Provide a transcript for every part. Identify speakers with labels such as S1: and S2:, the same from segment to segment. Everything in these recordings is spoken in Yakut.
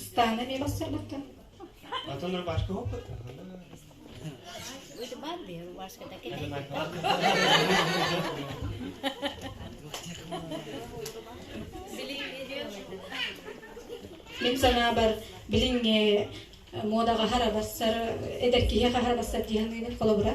S1: Ыстааны эмиэ бастарбыттар. Атын рубашка опыт. Выжимаем, я рубашка так и Мин санаабар билинге муодаҕа хара бассар эдэр киһи хаһара бассар диһаныгын холобура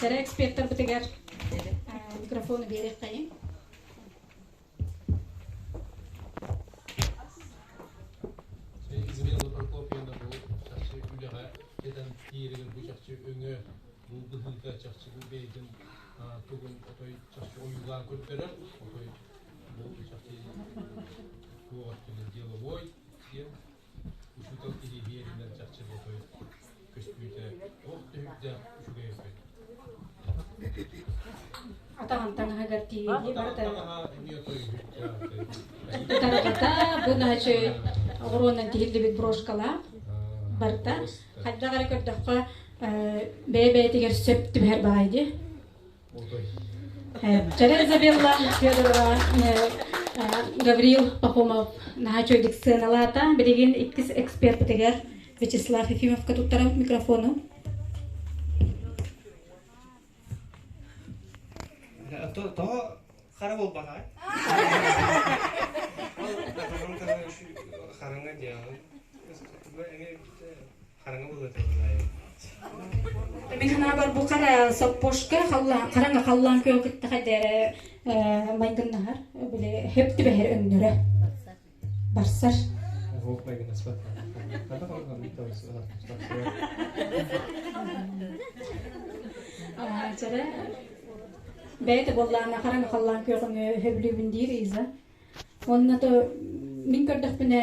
S1: Tere экспертербитигэр микрофону биэриэххэйин. Измена Прокопьевна бу чахчы үлэҕэ кэтэн тиэригэр бу чахчы өҥө булгыһыыта чахчы бу бэйэтин тугун отой чахчы ойуулаан көрдөрөр отой бу чахчы туох деловой всем Учуутал кириэһи эринэн чахчы бу той көстүүтэ туох түһүктээх үчүгэй эбит. Атаҕын таҥаһыгар тиийии барыта Тарҕата бынаачы оҕуруонан тиһиллибит брошкалаах барыта хайдах эрэ көрдөххө бэйэ-бэйэтигэр сөп түбэһэр баҕайы Чара Изабелла Федорова, Гаврил Пахомов наһаа чөйдүк сыаналаата. Билигин иккис экспертитигэр Вячеслав Ефимовка туттарабыт микрофону. Тоҕо хара буолбанаҕай? Хараҥа диэҕин. хараҥа быһыыта Мин санаабар бу хара соппошка хараҥа халлаан күө кытта дэрэ майгыннаһар били хөп түбэһэр өндөрө барсар Жара бэйте боллаама хараҥа халлаан күөҕүҥ хөблүүбүн диир иза онна то мин көрдөхпүнэ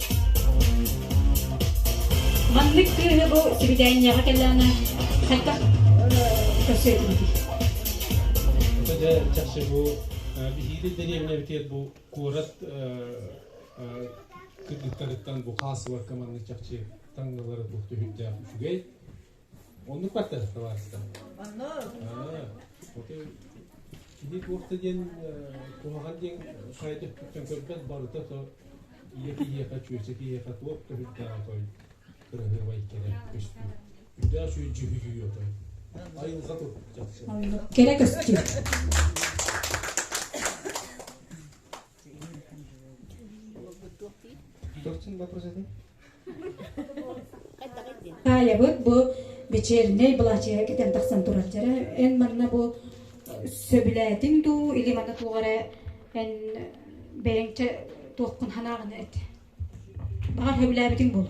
S1: Маннык кыыһы бу сибидээнньэҕэ кэллэҕинэ хайдах көрсө этибитий? Дьэ, чахчы бу биһиги дэриэбинэбитигэр бу куорат кыргыттарыттан бу хаасыбакка маннык чахчы таҥнылара туох да үһүндээх үчүгэй. Оннук баттаһыттабаатта. Онно. Оты кини туохта диэн куһаҕан диэн сайда өттүттэн көрбөт барыта то ийэ киһиэхэ чүөсэ киһиэхэ туох көһүрдэҕэ той кыраһыабай кэрэ көстүү. Үрдээх сүөдьү хүйүү отой. Айылҕа тут чахчы. Кэрэ көстүү. Таайабыт бу вечернэй былачыга кэтэн тахсан тураччара эн манна бу сөбүлээтиҥ дуу или маны туоҕара эн бэйэҥчэ туохкун ханааҕына эт баҕар сөбүлээбитиҥ буол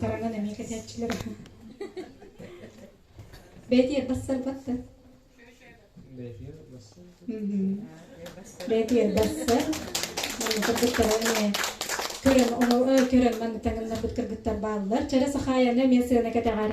S1: Тараҥан эмиэ кэтээччилэр. Бээтиэр бассар батта. Бээтиэр бассар. Бээтиэр бассар. Манна кыргыттар эмиэ көрөн, көрөн маны таҥыннарбыт кыргыттар бааллар. Чэрэ сахааяны эмиэ сыана кэтэҕэр.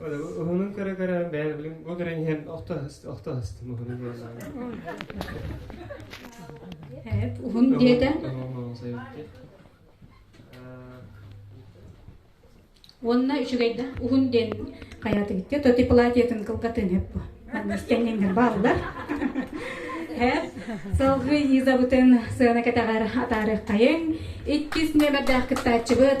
S1: Уһунун көрө көрө бэйэ билим ол көрөн иһэн охтоостым уһунун көрөн уһун диэтэ уонна үчүгэйдэ уһун диэн хайаатыгытте то ты платьетын кылгатын эп бу аннистеннингер бааллар салгы изабытын сыана катаҕар атаарык хайын иккис нөмердээх кыттааччыбыт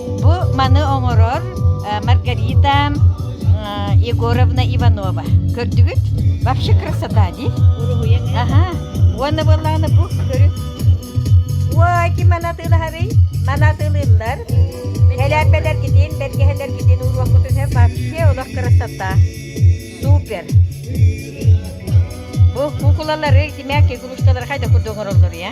S1: Бу маны оҥорор Маргарита Егоровна Иванова. Көрдүгүт? Вообще красота, ди? Уруһуйан. Ага. Уонна буоллаҕына бу көрү. Ой, ким манатыылаһарый? Манатыылыыллар. Кэлээппэлэргитин, бэргэһэлэргитин уруоккутуна вообще олох красота. Супер. Бу кукулалары, тимээк кулушталары хайда курдук оҥороллор, я?